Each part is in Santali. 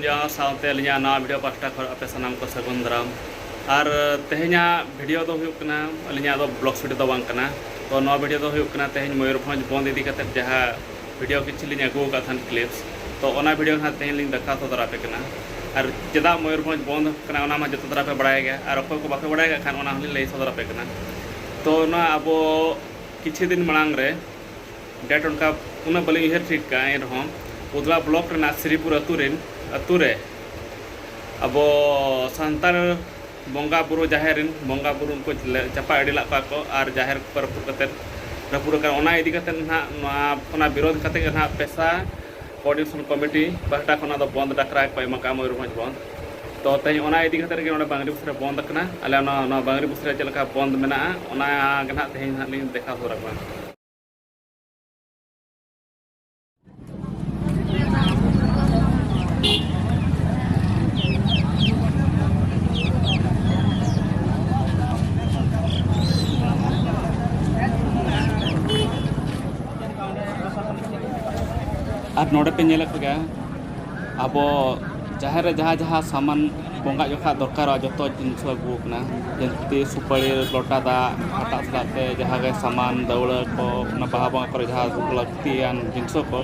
ᱡᱚᱦᱟᱨ ᱥᱟᱶᱛᱮ ᱟᱹᱞᱤᱧᱟᱜ ᱱᱟᱣᱟ ᱵᱷᱤᱰᱤᱭᱳ ᱯᱟᱥᱴᱟ ᱠᱷᱚᱱ ᱟᱯᱮ ᱥᱟᱱᱟᱢ ᱠᱚ ᱥᱟᱹᱜᱩᱱ ᱫᱟᱨᱟᱢ ᱟᱨ ᱛᱮᱦᱮᱧᱟᱜ ᱵᱷᱤᱰᱤᱭᱳ ᱫᱚ ᱦᱩᱭᱩᱜ ᱠᱟᱱᱟ ᱟᱹᱞᱤᱧᱟᱜ ᱫᱚ ᱵᱞᱚᱜᱽ ᱵᱷᱤᱰᱤᱭᱳ ᱫᱚ ᱵᱟᱝ ᱠᱟᱱᱟ ᱛᱚ ᱱᱚᱣᱟ ᱵᱷᱤᱰᱤᱭᱳ ᱫᱚ ᱦᱩᱭᱩᱜ ᱠᱟᱱᱟ ᱛᱮᱦᱮᱧ ᱢᱚᱭᱩᱨᱵᱷᱚᱸᱡᱽ ᱵᱚᱸᱫᱽ ᱤᱫᱤ ᱠᱟᱛᱮᱫ ᱡᱟᱦᱟᱸ ᱵᱷᱤᱰᱤᱭᱳ ᱠᱤᱪᱷᱩ ᱞᱤᱧ ᱟᱹᱜᱩ ᱟᱠᱟᱫ ᱛᱟᱦᱮᱱ ᱠᱞᱤᱯᱥ ᱛᱚ ᱚᱱᱟ ᱵᱷᱤᱰᱤᱭᱳ ᱱᱟᱦᱟᱜ ᱛᱮᱦᱮᱧ ᱞᱤᱧ ᱫᱮᱠᱷᱟᱣ ᱥᱚᱫᱚᱨ ᱟᱯᱮ ᱠᱟᱱᱟ ᱟᱨ ᱪᱮᱫᱟᱜ ᱢᱚᱭᱩᱨᱵᱷᱚᱸᱡᱽ ᱵᱚᱱᱫᱽ ᱟᱠᱟᱱᱟ ᱚᱱᱟ ᱢᱟ ᱡᱚᱛᱚ ᱫᱷᱟᱨᱟ ᱯᱮ ᱵᱟᱲᱟᱭ ᱜᱮᱭᱟ ᱟᱨ ᱚᱠᱚᱭ ᱠᱚ ᱵᱟᱯᱮ ᱵᱟᱲᱟᱭ ᱠᱟᱜ ᱠᱷᱟᱱ ᱚᱱᱟ ᱦᱚᱸᱞᱤᱧ ᱞᱟᱹᱭ ᱥᱚᱫᱚᱨ ᱟᱯᱮ ᱠᱟᱱᱟ ᱛᱚ ᱱᱚᱣᱟ ᱟᱵᱚ ᱠᱤᱪᱷᱩ ᱫᱤᱱ ᱢᱟᱲᱟᱝ ᱨᱮ ᱰᱮᱴ ᱚᱱᱠᱟ ᱩᱱᱟᱹᱜ ᱵᱟᱹᱞᱤᱧ ᱩᱭᱦᱟᱹᱨ ᱴᱷᱤᱠ ᱠᱟᱜᱼᱟ ᱮᱱ ᱨᱮᱦᱚᱸ ᱩᱫᱽᱞᱟ ᱵᱞᱚᱠ ᱨᱮᱱᱟᱜ ᱥᱨᱤᱯᱩᱨ ᱟᱹᱛᱩ ᱨᱮᱱ ᱟᱹᱛᱩ ᱨᱮ ᱟᱵᱚ ᱥᱟᱱᱛᱟᱲ ᱵᱚᱸᱜᱟ ᱵᱩᱨᱩ ᱡᱟᱦᱮᱨ ᱨᱮᱱ ᱵᱚᱸᱜᱟ ᱵᱩᱨᱩ ᱩᱱᱠᱩ ᱪᱟᱯᱟ ᱤᱫᱤ ᱞᱮᱫ ᱠᱚᱣᱟ ᱠᱚ ᱟᱨ ᱡᱟᱦᱮᱨ ᱠᱚ ᱨᱟᱹᱯᱩᱫ ᱠᱟᱛᱮᱫ ᱨᱟᱹᱯᱩᱫ ᱟᱠᱟᱱ ᱚᱱᱟ ᱤᱫᱤ ᱠᱟᱛᱮᱫ ᱱᱟᱦᱟᱜ ᱱᱚᱣᱟ ᱚᱱᱟ ᱵᱤᱨᱳᱫᱷ ᱠᱟᱛᱮᱫ ᱜᱮ ᱱᱟᱦᱟᱜ ᱯᱮᱥᱟ ᱠᱳᱨᱰᱤᱱᱮᱥᱚᱱ ᱠᱚᱢᱤᱴᱤ ᱯᱟᱦᱴᱟ ᱠᱷᱚᱱᱟᱜ ᱫᱚ ᱵᱚᱸᱫᱽ ᱰᱟᱠᱨᱟ ᱠᱚ ᱮᱢ ᱟᱠᱟᱫᱼᱟ ᱢᱚᱭᱩᱨᱵᱷᱚᱸᱡᱽ ᱵᱚᱸᱫᱽ ᱛᱚ ᱛᱮᱦᱮᱧ ᱚᱱᱟ ᱤᱫᱤ ᱠᱟᱛᱮᱫ ᱜᱮ ᱱᱚᱰᱮ ᱵᱟᱝᱨᱤ ᱯᱚᱭᱥᱟ ᱵᱚᱸᱫᱽ ᱟᱠᱟᱱᱟ ᱟᱞᱮ ᱚᱱᱟ ᱱᱚᱣᱟ ᱵᱟᱝᱨᱤ ᱯᱚᱭᱥᱟ ᱨᱮ ᱪᱮᱫ ᱞᱮᱠᱟ ᱵᱚᱸᱫᱽ ᱢᱮᱱᱟᱜᱼᱟ ᱚᱱᱟ ᱜᱮ ᱱᱟᱦᱟᱜ ᱛᱮᱦᱮᱧ ᱱᱟᱦᱟᱜ ᱞᱤᱧ ᱫᱮᱠᱷᱟᱣ ᱥᱚᱫᱚᱨ ᱟᱠᱚ ᱠᱟᱱᱟ ᱟᱨ ᱱᱚᱰᱮ ᱯᱮ ᱧᱮᱞᱮᱫ ᱠᱚᱜᱮᱭᱟ ᱟᱵᱚ ᱡᱟᱦᱮᱨ ᱨᱮ ᱡᱟᱦᱟᱸ ᱡᱟᱦᱟᱸ ᱥᱟᱢᱟᱱ ᱵᱚᱸᱜᱟ ᱡᱚᱠᱷᱟ ᱫᱚᱨᱠᱟᱨᱚᱜᱼᱟ ᱡᱚᱛᱚ ᱡᱤᱱᱤᱥ ᱟᱹᱜᱩ ᱠᱟᱱᱟ ᱡᱮᱢᱛᱤ ᱥᱩᱯᱟᱹᱲᱤ ᱞᱚᱴᱟ ᱫᱟᱜ ᱦᱟᱴᱟᱜ ᱥᱟᱞᱟᱜ ᱛᱮ ᱡᱟᱦᱟᱸ ᱜᱮ ᱥᱟᱢᱟᱱ ᱫᱟᱹᱣᱲᱟᱹ ᱠᱚ ᱚᱱᱟ ᱵᱟᱦᱟ ᱵᱚᱸᱜᱟ ᱠᱚᱨᱮ ᱡᱟᱦᱟᱸ ᱠᱚ ᱞᱟᱹᱠᱛᱤ ᱞᱟᱹᱠᱛᱤᱭᱟᱱ ᱡᱤᱱᱤᱥ ᱠᱚ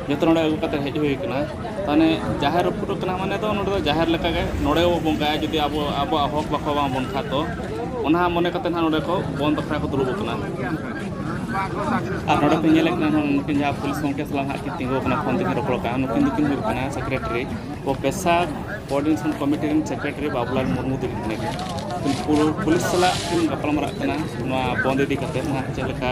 ᱡᱚᱛᱚ ᱱᱚᱰᱮ ᱟᱹᱜᱩ ᱠᱟᱛᱮ ᱦᱮᱡ ᱦᱩᱭ ᱠᱟᱱᱟ ᱢᱟᱱᱮ ᱡᱟᱦᱮᱨ ᱨᱟᱹᱯᱩᱫ ᱠᱟᱱᱟ ᱢᱟᱱᱮ ᱫᱚ ᱱᱚᱰᱮ ᱫᱚ ᱡᱟᱦᱮᱨ ᱞᱮᱠᱟ ᱜᱮ ᱱᱚᱰᱮ ᱵᱚ ᱵᱚᱸᱜᱟᱭᱟ ᱡᱩᱫᱤ ᱟᱵᱚ ᱟᱵᱚᱣᱟᱜ ᱦᱚᱠ ᱵᱟᱠᱚ ᱮᱢᱟ ᱵᱚᱱ ᱠᱷᱟᱱ ᱫᱚ ᱚᱱᱟ ᱢᱚᱱᱮ ᱠᱟᱛᱮ ᱱᱟᱦᱟᱜ ᱱᱚᱰᱮ ᱠᱚ ᱵᱚᱱ ᱵᱟᱠᱷᱨᱟ ᱠᱚ ᱫᱩᱲᱩᱵ ᱠᱟᱱᱟ ᱟᱨ ᱱᱚᱰᱮ ᱯᱮ ᱧᱮᱞᱮᱫ ᱠᱟᱱᱟ ᱱᱩᱠᱤᱱ ᱡᱟᱦᱟᱸ ᱯᱩᱞᱤᱥ ᱜᱚᱢᱠᱮ ᱥᱟᱞᱟᱜ ᱱᱟᱦᱟᱜ ᱠᱤᱱ ᱛᱤᱸᱜᱩ ᱠᱟᱱᱟ ᱯᱷᱳᱱ ᱛᱮᱠᱤᱱ ᱨᱚᱯᱚᱲ ᱠᱟᱱᱟ ᱱᱩᱠᱤᱱ ᱫᱚᱠᱤᱱ ᱦᱩᱭᱩᱜ ᱠᱟᱱᱟ ᱥᱮᱠᱨᱮᱴᱟᱨᱤ ᱯᱨᱚᱯᱷᱮᱥᱟᱨ ᱠᱳᱚᱨᱰᱤᱱᱮᱥᱚᱱ ᱠᱚᱢᱤᱴᱤ ᱨᱮᱱ ᱥᱮᱠᱨᱮᱴᱟᱨᱤ ᱵᱟᱵᱩᱞᱟᱞ ᱢᱩᱨᱢᱩ ᱛᱟᱹᱠᱤᱱ ᱠᱟᱱᱟ ᱠᱤᱱ ᱯᱩᱞᱤᱥ ᱥᱟᱞᱟᱜ ᱠᱤᱱ ᱜᱟᱯᱟᱞᱢᱟᱨᱟᱜ ᱠᱟᱱᱟ ᱱᱚᱣᱟ ᱵᱚᱱᱫ ᱤᱫᱤ ᱠᱟᱛᱮ ᱱᱟᱦᱟᱜ ᱪᱮᱫ ᱞᱮᱠᱟ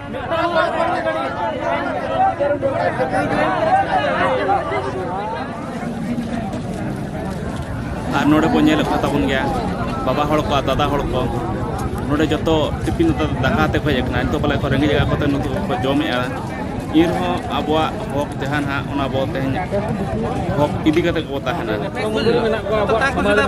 ᱟᱨ ᱱᱚᱰᱮ ᱵᱚᱱ ᱧᱮᱞᱮᱫ ᱠᱚ ᱛᱟᱵᱚᱱ ᱜᱮᱭᱟ ᱵᱟᱵᱟ ᱦᱚᱲ ᱠᱚ ᱫᱟᱫᱟ ᱦᱚᱲ ᱠᱚ ᱱᱚᱰᱮ ᱡᱚᱛᱚ ᱴᱤᱯᱤᱱ ᱟᱛᱮ ᱫᱟᱠᱟ ᱟᱛᱮ ᱠᱚ ᱦᱮᱡ ᱟᱠᱟᱱᱟ ᱱᱤᱛᱚᱜ ᱯᱟᱞᱮ ᱠᱚ ᱨᱮᱸᱜᱮᱡ ᱡᱟᱭᱜᱟ ᱠᱚᱛᱮ ᱱᱤᱛᱚᱜ ᱠᱚ ᱡᱚᱢᱮᱫᱼᱟ ᱮᱱᱨᱮᱦᱚᱸ ᱟᱵᱚᱣᱟᱜ ᱦᱚᱠ ᱡᱟᱦᱟᱸ ᱱᱟᱦᱟᱜ ᱚᱱᱟ ᱵᱚ ᱛᱮᱦᱮᱧ ᱦᱚᱠ ᱤᱫᱤ ᱠᱟᱛᱮ ᱠᱚ ᱛᱟᱦᱮᱱᱟ ᱢᱮᱱᱟᱜ ᱠᱚᱣᱟ ᱟᱵᱚᱣᱟᱜ ᱥᱚᱢᱟᱡᱽ ᱨᱮ।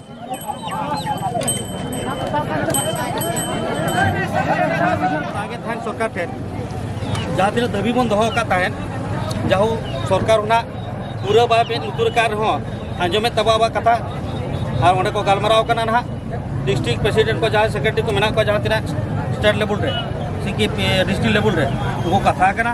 ᱥᱚᱨᱠᱟᱨ ᱴᱷᱮᱱ ᱡᱟᱦᱟᱸ ᱛᱤᱱᱟᱹᱜ ᱫᱟᱹᱵᱤ ᱵᱚᱱ ᱫᱚᱦᱚ ᱟᱠᱟᱫ ᱛᱟᱦᱮᱸᱫ ᱡᱟᱦᱳ ᱥᱚᱨᱠᱟᱨ ᱚᱱᱟ ᱯᱩᱨᱟᱹ ᱵᱟᱭ ᱢᱮᱫ ᱞᱩᱛᱩᱨ ᱟᱠᱟᱫ ᱨᱮᱦᱚᱸ ᱟᱸᱡᱚᱢᱮᱫ ᱛᱟᱵᱚ ᱟᱵᱚᱣᱟᱜ ᱠᱟᱛᱷᱟ ᱟᱨ ᱚᱸᱰᱮ ᱠᱚ ᱜᱟᱞᱢᱟᱨᱟᱣ ᱠᱟᱱᱟ ᱱᱟᱦᱟᱜ ᱰᱤᱥᱴᱨᱤᱠ ᱯᱨᱮᱥᱤᱰᱮᱱᱴ ᱠᱚ ᱡᱟᱦᱟᱸᱭ ᱥᱮᱠᱨᱮᱴᱟᱨᱤ ᱠᱚ ᱢᱮᱱᱟᱜ ᱠᱚᱣᱟ ᱡᱟᱦᱟᱸ ᱛᱤᱱᱟᱹᱜ ᱥᱴᱮᱴ ᱞᱮᱵᱮᱞ ᱨᱮ ᱥᱤᱠᱤ ᱰᱤᱥᱴᱨᱤᱠ ᱞᱮᱵᱮᱞ ᱨᱮ ᱩᱱᱠᱩ ᱠᱟᱛᱷᱟ ᱠᱟᱱᱟ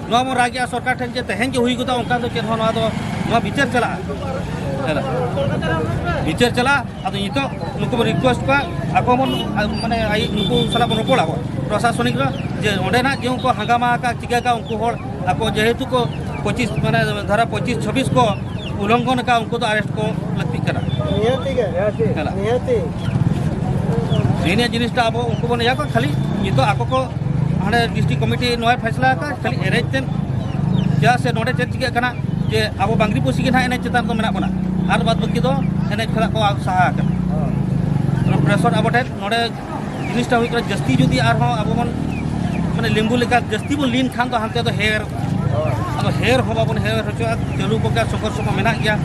ᱱᱚᱣᱟ ᱵᱚᱱ ᱨᱟᱜᱮᱜᱼᱟ ᱥᱚᱨᱠᱟᱨ ᱴᱷᱮᱱ ᱡᱮ ᱛᱮᱦᱮᱧ ᱜᱮ ᱦᱩᱭ ᱜᱚᱫᱚᱜᱼᱟ ᱚᱱᱠᱟ ᱫᱚ ᱪᱮᱫ ᱦᱚᱸ ᱱᱚᱣᱟ ᱫᱚ ᱱᱚᱣᱟ ᱵᱤᱪᱟᱹᱨ ᱪᱟᱞᱟᱜᱼᱟ ᱵᱤᱪᱟᱹᱨ ᱪᱟᱞᱟᱜᱼᱟ ᱟᱫᱚ ᱱᱤᱛᱚᱜ ᱱᱩᱠᱩ ᱵᱚᱱ ᱨᱤᱠᱩᱭᱮᱥᱴ ᱠᱚᱣᱟ ᱟᱠᱚ ᱵᱚᱱ ᱢᱟᱱᱮ ᱟᱭ ᱱᱩᱠᱩ ᱥᱟᱞᱟᱜ ᱵᱚᱱ ᱨᱚᱯᱚᱲᱟ ᱵᱚᱱ ᱯᱨᱚᱥᱟᱥᱚᱱᱤᱠ ᱨᱮ ᱡᱮ ᱚᱸᱰᱮ ᱱᱟᱜ ᱡᱮ ᱩᱱᱠᱩ ᱦᱟᱸᱜᱟᱢᱟ ᱟᱠᱟᱫ ᱪᱤᱠᱟᱹ ᱟᱠᱟᱫ ᱩᱱᱠᱩ ᱦᱚᱲ ᱟᱠᱚ ᱡᱮᱦᱮᱛᱩ ᱠᱚ ᱯᱚᱸᱪᱤᱥ ᱢᱟᱱᱮ ᱫᱷᱟᱨᱟ ᱯᱚᱸᱪᱤᱥ ᱪᱷᱟᱵᱵᱤᱥ ᱠᱚ ᱩᱞᱚᱝᱜᱷᱚᱱ ᱟᱠᱟᱫ ᱩᱱᱠᱩ ᱫᱚ ᱟᱨᱮᱥᱴ ᱠᱚ ᱞᱟᱹᱠᱛᱤᱜ ᱠᱟᱱᱟ ᱱᱤᱭᱟᱹ ᱡᱤᱱᱤᱥᱴᱟ ᱟᱵᱚ ᱩᱱᱠᱩ ᱵᱚᱱ ᱤᱭᱟᱹ ᱠᱚᱣᱟ ᱠᱷᱟᱹᱞᱤ ᱱᱤᱛᱚᱜ ᱟᱠᱚ ᱠᱚ ᱦᱟᱸᱰᱮ ᱰᱤᱥᱴᱨᱤᱠ ᱠᱚᱢᱤᱴᱤ ᱱᱚᱣᱟᱭ ᱯᱷᱟᱭᱥᱞᱟ ᱟᱠᱟᱫ ᱠᱷᱟᱹᱞᱤ ᱮᱱᱮᱡ ᱛᱮ ᱪᱮᱫᱟᱜ ᱥᱮ ᱱᱚᱰᱮ ᱪᱮᱫ ᱪᱤᱠᱟᱹᱜ ᱠᱟᱱᱟ ᱡᱮ ᱟᱵᱚ ᱵᱟᱝᱜᱽᱨᱤ ᱯᱩᱥᱤ ᱜᱮ ᱱᱟᱦᱟᱜ ᱮᱱᱮᱡ ᱪᱮᱛᱟᱱ ᱫᱚ ᱢᱮᱱᱟᱜ ᱵᱚᱱᱟ ᱟᱨ ᱵᱟᱫ ᱵᱟᱹᱠᱤ ᱫᱚ ᱮᱱᱮᱡ ᱠᱷᱚᱱᱟᱜ ᱠᱚ ᱥᱟᱦᱟ ᱟᱠᱟᱱᱟ ᱯᱨᱮᱥᱚᱨ ᱟᱵᱚ ᱴᱷᱮᱱ ᱱᱚᱰᱮ ᱡᱤᱱᱤᱥᱴᱟ ᱦᱩᱭᱩᱜ ᱠᱟᱱᱟ ᱡᱟᱹᱥᱛᱤ ᱡᱩᱫᱤ ᱟᱨᱦᱚᱸ ᱟᱵᱚ ᱵᱚᱱ ᱢᱟᱱᱮ ᱞᱮᱢᱵᱩ ᱞᱮᱠᱟ ᱡᱟᱹᱥᱛᱤ ᱵᱚᱱ ᱞᱤᱱ ᱠᱷᱟᱱ ᱫᱚ ᱦᱟᱱᱛᱮ ᱫᱚ ᱦᱮᱨ ᱟᱫᱚ ᱦᱮᱨ ᱦᱚᱸ ᱵᱟᱵᱚᱱ ᱦᱮᱨ ᱦᱚᱪᱚᱜᱼᱟ ᱪᱟᱹᱞᱩ ᱠᱚᱜᱮ ᱥᱚᱝᱜᱷᱚᱨᱥᱚ ᱠᱚ ᱢᱮᱱᱟᱜ ᱜᱮᱭᱟ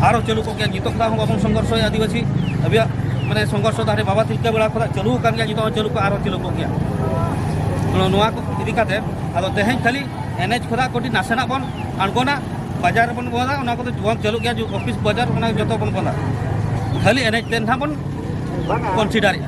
ᱟᱨᱚ ᱪᱟᱹᱞᱩ ᱠᱚᱜᱮ ᱱᱤᱛᱚᱜ ᱠᱷᱚᱱᱟᱜ ᱦᱚᱸ ᱵᱟᱵᱚᱱ ᱥᱚᱝᱜᱷᱚᱨᱥᱚᱭᱟ ᱟᱹᱫᱤᱵᱟᱹᱥᱤ ᱟᱵᱚᱣᱟᱜ ᱢᱟᱱᱮ ᱥᱚᱝᱜᱷᱚᱨᱥᱚ ᱫᱚ ᱦᱟᱱᱮ ᱵᱟᱵᱟ ᱛᱤᱞᱠᱟᱹ ᱵᱮᱲᱟ ᱠᱷᱚᱱᱟᱜ ᱪᱟᱹᱞᱩ ᱟᱠᱟᱱ ᱜᱮᱭᱟ ᱱᱤᱛᱚᱜ ᱦᱚᱸ ᱪᱟᱹᱞᱩ ᱠᱚ ᱟᱨᱚ ᱪᱟᱹᱞᱩ ᱠᱚᱜ ᱜᱮᱭᱟ ᱱᱚᱣᱟ ᱠᱚ ᱤᱫᱤ ᱠᱟᱛᱮ ᱟᱫᱚ ᱛᱮᱦᱮᱧ ᱠᱷᱟᱹᱞᱤ ᱮᱱᱮᱡ ᱠᱷᱚᱱᱟᱜ ᱠᱟᱹᱴᱤᱡ ᱱᱟᱥᱮᱱᱟᱜ ᱵᱚᱱ ᱟᱬᱜᱚᱱᱟ ᱵᱟᱡᱟᱨ ᱨᱮᱵᱚᱱ ᱵᱚᱱᱫᱟ ᱚᱱᱟ ᱠᱚᱫᱚ ᱵᱚᱱᱫ ᱪᱟᱹᱞᱩᱜ ᱜᱮᱭᱟ ᱚᱯᱷᱤᱥ ᱵᱟᱡᱟᱨ ᱚᱱᱟ ᱡᱚᱛᱚ ᱵᱚᱱ ᱵᱚᱱᱫᱟ ᱠᱷᱟᱹᱞᱤ ᱮᱱᱮᱡ ᱛᱮ ᱱᱟᱦᱟᱜ ᱵᱚᱱ ᱠᱚᱱᱥᱤᱰᱟᱨᱮᱜᱼᱟ